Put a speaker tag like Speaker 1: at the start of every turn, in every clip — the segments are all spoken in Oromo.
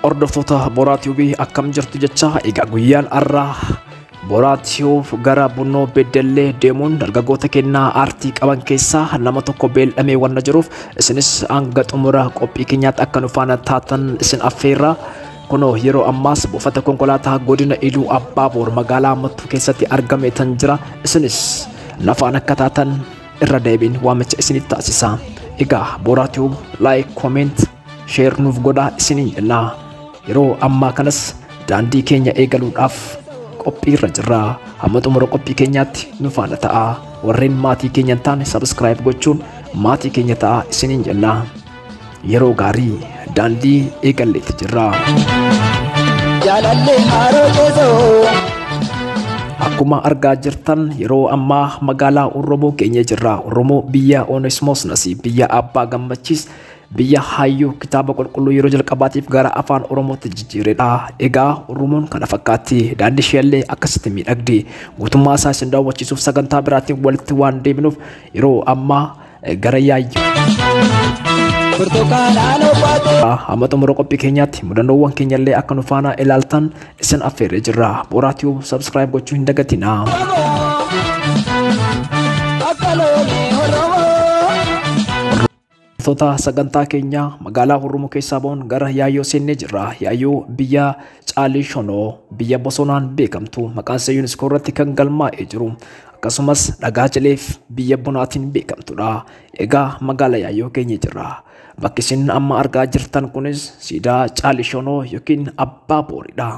Speaker 1: Hordoftoota Boraa Tiibii akkam jirtu jecha egaa guyyaan har'aa Boraa Tiibii gara Bunnoo Beddellee deemuun dargaggoota kennaa aartii qaban keessaa nama tokko beel'amee wanna jiruuf isinis hanga xumura qophii keenyaatti akka nu faana taatan isin affeerra. Kunoo yeroo ammaas buufata konkolaataa godina Iluu Abbaaboor magaalaa Mattuu keessatti argame tan jira isinis nafaan akka taatan irra deebiin waamicha isiniif taasisa. Egaa Boraa Tiibii like, comment, sheer nuuf godhaa isiniin jennaa yeroo ammaa kanas daandii keenya eegaluudhaaf qophii irra jirra hamma xumura qophii keenyaatti nu faana ta'a warreen maatii keenya hin taane sabiskiraayib gochuun maatii keenya ta'a isiniin jennaa yeroo gaarii daandii eegalleetti jirra. jaalallee haaroo keessoo. Akkuma argaa jirtan yeroo ammaa magaalaa Oromoo keenya jirra. Oromoo biyya Onesmoos Nasiib biyya Abbaa Gammachiis biyya hayyuu kitaaba qulqulluu yeroo jalqabaatiif gara afaan oromootti jijjiiredha. Egaa Oromoon kana fakkaatti. Daandii isheellee akkasitti miidhagdi. Guutummaa isaa isin daawwachiisuuf sagantaa biraatiin walitti waan deebinuuf yeroo ammaa gara yaayyuu. Burtukaanaan obbaatee. Amma xumura qophii keenyaatti mudannoowwan keenyallee akka nu faana ilaaltan isin affeerree jirra. Booraa Tube subscribe gochuu hin dagatinaa. Akka loonii horroo. Hordoftoota sagantaa keenyaa magaalaa Hurrumuu keessaa ba'uun gara Yaayyoo seennee jirra. Yaayyoo biyya Caalii Shonoo biyya bosonaan beekamtu maqaan ishee yuuniskoo irratti kan galmaa'ee jiru akkasumas dhagaa cileef biyya bunaatiin beekamtudha. Egaa magaalaa Yaayyoo geenye jirra. Bakki isin amma argaa jirtan kunis siidaa Caalii Shonoo yookiin Abbaa Booridha.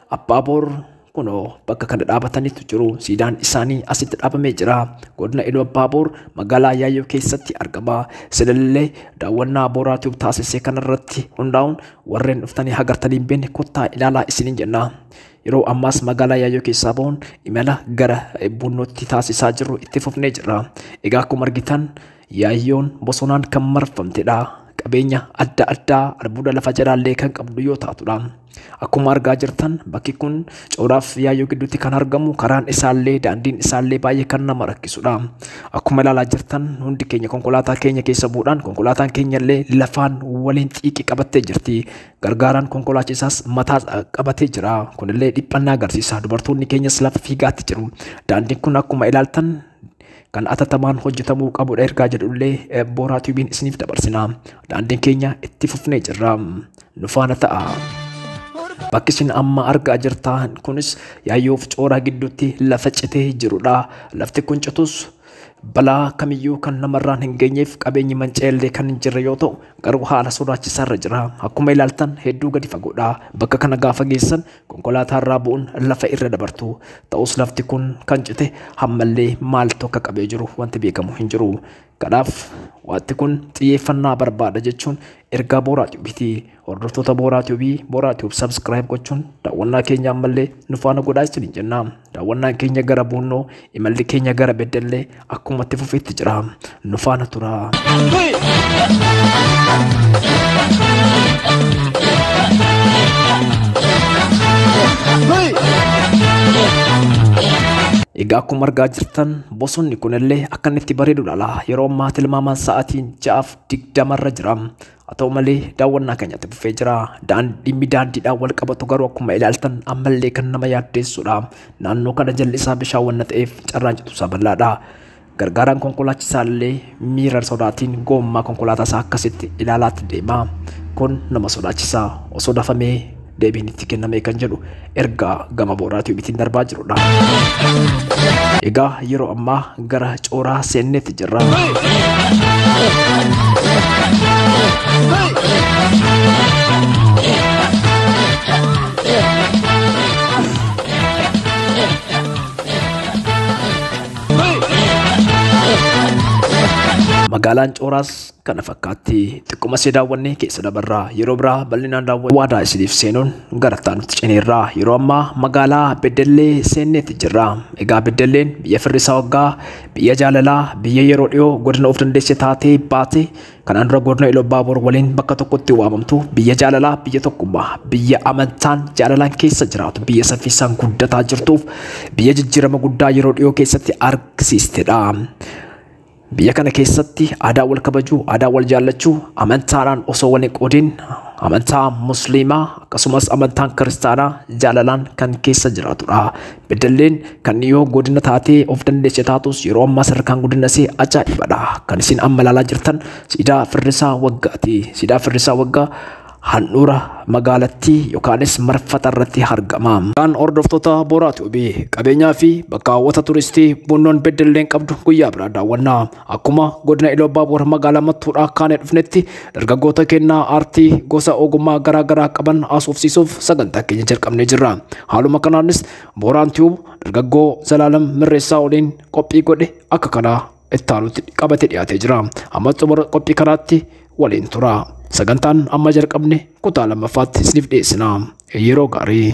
Speaker 1: Abbaa Boor kunoo bakka kana dhaabatanitu jiru. Siidaan isaanii asitti dhaabamee jira. Godina Iluu Abbaa Boor magaalaa Yaayyoo keessatti argama. Isinillee daawwannaa Booraa Tube taasisee kanarratti hundaa'uun warreen dhuftanii hagartanii hin beekne kottaa ilaalaa isiniin jenna. Yeroo ammaas magaalaa Yaayyoo keessaa bahuun imala gara Buunnootti taasisaa jirru itti fufnee jirra. Egaa akkuma argitan Yaayyoon bosonaan kan marfamtedha. Qabeenya adda addaa albuuda lafa jalaallee kan qabdu yoo taatudha. Akkuma argaa jirtan bakki kun cooraaf yaayyoo gidduutti kan argamu karaan isaallee daandiin isaallee baay'ee kan nama rakkisudha. Akkuma ilaalaa jirtan hundi keenya konkolaataa keenya keessa bu'uudhaan konkolaataan keenyallee lafaan waliin xiiqii qabattee jirti. Gargaaraan konkolaachisaas mataa qabatee jira. Kunillee dhiphannaa agarsiisa. Dubartoonni keenyas lafa fiigaatti jiru. Daandiin kun akkuma ilaaltan kan atattamaan hojjetamuu qabudha ergaa jedhullee booraa tiibiin isiniif dabarsina. Daandiin keenya itti fufnee jirra. nu faana ta'a. Bakki isin amma argaa jirtan kunis yaayyoof cooraa gidduutti lafa citee jirudha. Lafti kun citus balaa kamiyyuu kan namarraan hin geenyeef qabeenyi manca'ellee kan hin jirre yoo ta'u garuu haala sodaachisaarra jira. Akkuma ilaaltan hedduu gadi fagoodha. Bakka kana gaafa geessan konkolaataarraa bu'uun lafa irra dabartu. Ta'us lafti kun kan cite hammallee maaltu akka qabee jiru wanti beekamu hin jiru. Kanaaf wanti kun xiyyeeffannaa barbaada jechuun ergaa Booraa Tiyuubiiti. Hordoftoota Booraa Tiyuubii Booraa Tiyuub sabskiraayib gochuun daawwannaa keenya ammallee nu faana godhaa isiniin jenna. Daawwannaan keenya gara Buunnoo imalli keenya gara Beddellee akkuma itti fufeetti jira. Nu faana turaa. Egaa akkuma argaa jirtan Bosonni kunillee akka inni itti bareedu ilaala. Yeroo ammaa tilmaamaan sa'aatiin ja'aaf digdama irra jira. Haa ta'u malee daawwannaa keenyatti fufee jira. Daandii daandiidhaan wal qabatu garuu akkuma ilaaltan ammallee kan nama yaaddeessudha. Naannoo kana jalli isaa bishaan wanna ta'eef carraan citu isaa bal'aadha. Gargaaraan konkolaachisaa illee Miira sodaatiin goommaa konkolaataa isaa akkasitti ilaalaatti deema. Kun nama sodaachisa. Osoo dafamee deebiin itti kennamee kan jedhu ergaa gama booraa tiibitiin darbaa jirudha. Egaa yeroo ammaa gara cooraa seenneetti jirra. Magaalaan Cooraas kana fakkaatti xiqquma see daawwannee keessa dabarraa yeroo biraa bal'inaan daawwanne waadaa isiniif seenuun gara taanutti ceneerraa yeroo ammaa magaalaa Beddellee seenneetti jirra. Egaa Beddelleen biyya firrisaa waggaa, biyya jaalalaa, biyya yeroo dhiyoo godina of dandeesse taatee baate Kanaan dura godina Ilobbaabor waliin bakka tokkotti waamamtu biyya jaalalaa, biyya tokkummaa, biyya amantaan jaalalaan keessa jiraatu, biyya saffisaan guddataa jirtuuf biyya jijjiirama guddaa yeroo dhiyoo keessatti argisiistedha. Biyya kana keessatti aadaa wal kabajuu, aadaa wal jaallachuu, amantaadhaan osoo wal hin qoodin amantaa musliimaa akkasumas amantaan kiristaanaa jaalalaan kan keessa jiraatudha. Beddelleen kan dhiyoo godina taatee of dandeesse taatus yeroo ammaa sadarkaan guddina isee ajaa'ibadha. Kan isin amma ilaalaa jirtan siidaa firrisaa waggaati. Siidaa firrisaa waggaa handhuura magaalattii yookaanis marfata irratti argama. Kan hordoftoota Booraati Obii qabeenyaa fi bakka hawwata turistii Buunnoon Beddelleen qabdu guyyaa biraa daawwannaa. Akkuma godina Iluu Abbaa Boor magaalaa Mattuudhaa kaanee dhufnetti dargaggoota kennaa aartii gosa ogummaa garaa garaa qaban haasofsiisuuf sagantaa keenya jalqabnee jirra. Haaluma kanaanis Booraan Tiyuub dargaggoo Zalaalam Mirreessaa waliin qophii godhe akka kanaa itti aanutti qabatee dhiyaatee jira. Amma xumura qophii kanaatti Waliin turaa. Sagantaan amma jalqabne kutaa lammaffaatti isiniif dhiyeessina. Yeroo gaarii.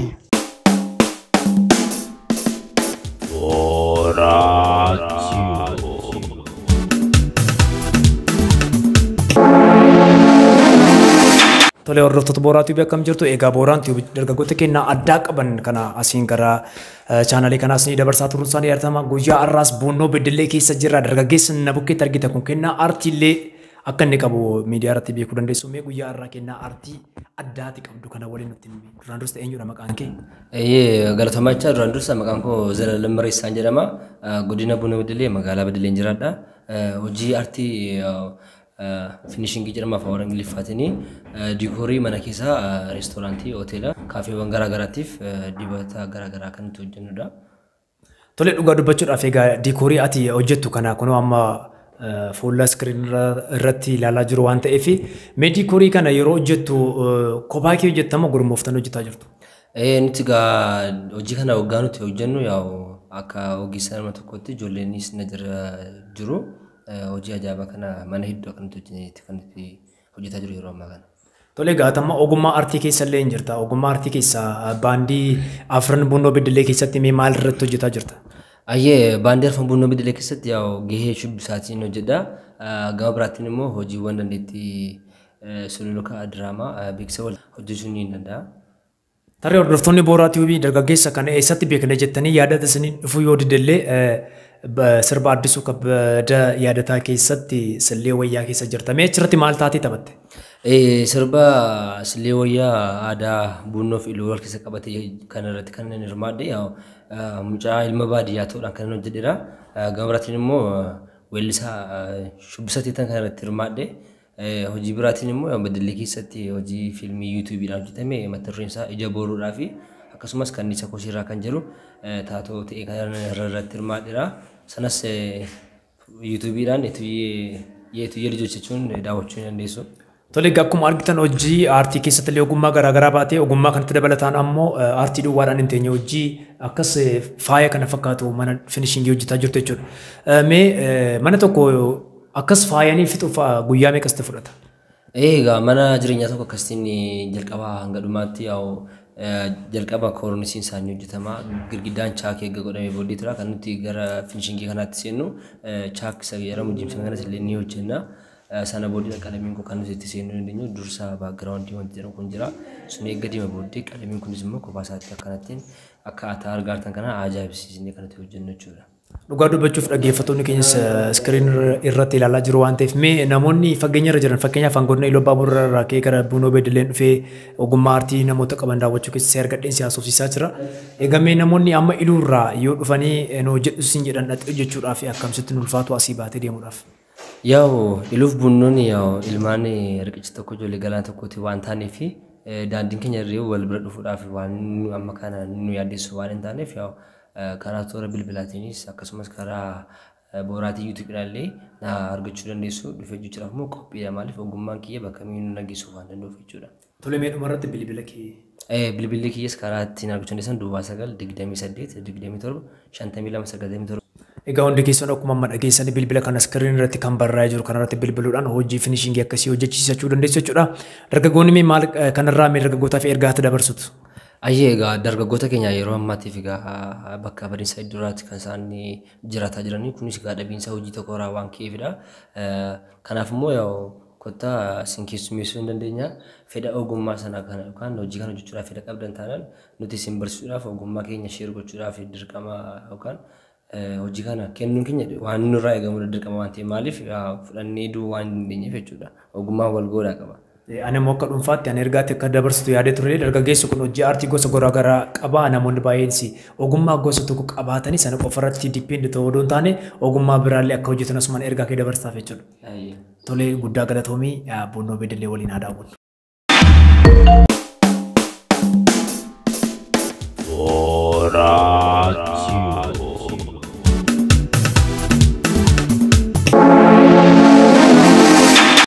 Speaker 1: Tolee hordoftoota Booraa Tiibii akkam jirtu egaa Booraan Tiibii dargaggoota keenya addaa qaban kana asiin gara chaanalii kanaas ni dabarsaa turuun isaanii yaadatamaa guyyaa har'aas buunnoo beddellee keessa jirra dargaggeessa na bukkeetti argita kun kennaa aartiillee Akka inni qabu miidiyaa irratti beekuu dandeessu mee guyyaa har'aa kennaa artii addaati qabdu kana waliin nutti himi. Duraan dursa eenyudha maqaan kee? Eeyyee galatoomaa
Speaker 2: jecha duraan dursa maqaan koo Zalaalam Mareessaan jedhama. Eh, Godina Buna Beddelee magaalaa Beddeleen jiraadha. Eh, Hojii artii finishingii jedhama afaan warra Ingiliffaatiin diikoorii mana keessaa eh, reestooraantii, hoteela, kaafeewwan garaa garaatiif eh, dibata garaa garaa kan itti hojjennudha. Tole
Speaker 1: dhugaa dubbachuudhaaf egaa diikoorii ati hojjettu kana kunoo amma fuula iskiriin irratti ilaalaa jiru waan ta'eef mee diikoorii kana yeroo hojjettu kophaa kee hojjettamoo gurmooftanii hojjetaa jirtu? Nuti egaa
Speaker 2: hojii kana waggaa nuti hojjennu yaa'u akka ogeessa nama tokkotti ijoolleenis na jira jiru. Hojii ajaa'ibaa kana mana hedduu akka nuti hojjetti kan nuti hojjetaa jiru yeroo ammaa kana. Tole egaa atamma
Speaker 1: ogummaa artii keessa illee hin jirta. Ogummaa artii keessa baandii Afran Bunnoo Beddellee keessatti mee maal irratti hojjetaa jirta? Ayyee baandii
Speaker 2: Afran Bunnoo Beddellee keessatti yaa gahee shubbisaatiin hojjedha. Gama biraatiin immoo hojiiwwan dandeettii sululuka diraamaa beeksisa wal hojjechuun ni danda'a. Tarii
Speaker 1: hordoftoonni Booraa Tiyuubii dargaggeessa kana eessatti beekna jettanii yaadata isiniin dhufuu yoo didellee sirba addisuu kabbada yaadataa keessatti sillee wayyaa keessa jirta. Mee achirratti maal taatee taphatte? Sirba
Speaker 2: sillee wayyaa aadaa buunnoo fi iluu wal keessa qabate kana irratti kan inni hirmaadhe mucaa ilma baadiyyaa ta'uudhaan kan inni hojjedheera. Gama biraatiin immoo weellisaa shubbisa teetan kana irratti hirmaadhe. Hojii biraatiin immoo Beddellee keessatti hojii fiilmii yuutuubiidhaan hojjetame mata dureen isaa Ija Booruudhaa fi akkasumas Kanniisa Kosiirraa kan jedhu taatoo ta'ee kan irratti hirmaadheera. Sanas yuutuubiidhaan Yeetuyyee Lijoch jechuun daawwachuu ni dandeessu. Tole egaa akkuma
Speaker 1: argitan hojii aartii keessatti illee ogummaa garaa garaa baatee ogummaa kanatti dabalataan ammoo aartii duwwaadhaan hin teenye hojii akkas faaya kana fakkaatu mana finishingii hojjetaa jirtu jechuudha. Mee mana tokko Akkas faayanii fixuuf guyyaa meeqa sitti fudhata? Ee egaa mana
Speaker 2: jireenyaa tokko akkasitiin jalqabaa hanga dhumaatti yaa'u jalqaba koornisiin isaa ni hojjetama. Girgiddaan chaakii erga godhamee booddee tura kan nuti gara finishingii kanaatti seennu chaak isa jedhamu jimsan kanas illee ni hojjenna. Sana booddee qalamiin kun kan nuti itti seennuu dandeenyu dursa baakgiraawundii wanti jedhamu kun jira. Sun eegga deema booddee qalamiin kunis immoo kophaa isaatti akkanattiin akka ataa argaartan kana ajaa'ibsiisnee kan itti hojjennu jechuudha. Dhugaa dubbachuuf
Speaker 1: dhaggeeffattoonni keenyas iskiriin irratti ilaalaa jiru waan ta'eef mee namoonni fageenya irra jiran fakkeenyaaf hangootni Iluu Abbaa Boorraa irraa ka'ee gara Buunoo Beedileen dhufee ogummaa aartii namoota qaban daawwachuu keessatti argadheen si haasofsiisaa jira. Egaa mee namoonni amma Iluu irraa yoo dhufanii nu hojjedhu siin jedhan dhaqxee hojjechuudhaaf akkamsitti nu ulfaatu asii baatee deemuudhaaf? Yaa'u
Speaker 2: iluuf bunnooni yaa'u ilmaan riqicha tokko ijoollee galaana tokkooti waan taaneef daandiin keenya irree wal bira dhufuudhaaf waan nu amma kana nu yaaddeessu waan hin taaneef yaa'u karaa toora bilbilaatiinis akkasumas karaa booraatii yuutuubiidhaallee na argachuu dandeessu dhufee jechuudhaaf immoo qophiidha maaliif ogummaan kiyya bakka miinuu nageessuuf waan danda'uuf jechuudha. Tole mee dhumarratti
Speaker 1: bilbila kee. Bilbilli kiyyas
Speaker 2: karaa ittiin argachuu dandeessan duwwaa 9 28 27 52 97. Egaa hundi keessan
Speaker 1: akkuma amma dhageessanii bilbila kana iskiriin irratti kan barraa'ee jiru kanarratti bilbiluudhaan hojii finishingii akkasii hojjechiisachuu dandeessu jechuudha. Dargaggoonni mee maal kanarraa mee dargaggootaaf ergaa itti dabarsitu? Ayyee egaa
Speaker 2: dargaggoota keenya yeroo ammaatiif egaa bakka badiinsa iddooraatti kan isaan jiraataa jiranii kunis egaa dhabiinsa hojii tokko irraa waan ka'eefidha. Kanaaf immoo Kottaa isin keessummeessuu hin dandeenya. Fedha ogummaa sana kana yookaan hojii kana hojjechuudhaaf fedha qabdan taanaan nuti isin barsiisuudhaaf ogummaa keenya share gochuudhaaf dirqama yookaan hojii kana kennuun keenya waan nurraa eegamudha dirqama waan ta'eef maaliif fudhannee du'uu waan hin dandeenyeef jechuudha. Ogummaan wal goodhaa qaba. Ani
Speaker 1: immoo akka dhuunfaatti ani ergaatti akka dabarsitu yaadee ture dargaggeessi kun hojii aartii gosa garaa garaa qaba namoonni baay'eensi ogummaa gosa tokko qabaatanii sana qofarratti dippeend ta'uu odoo hin taane ogummaa biraallee akka hojjetan asumaan ergaa kee dabarsaaf jechuudha. Tole guddaa galatoomi Buunnoo Beddellee waliin haa daawwannu.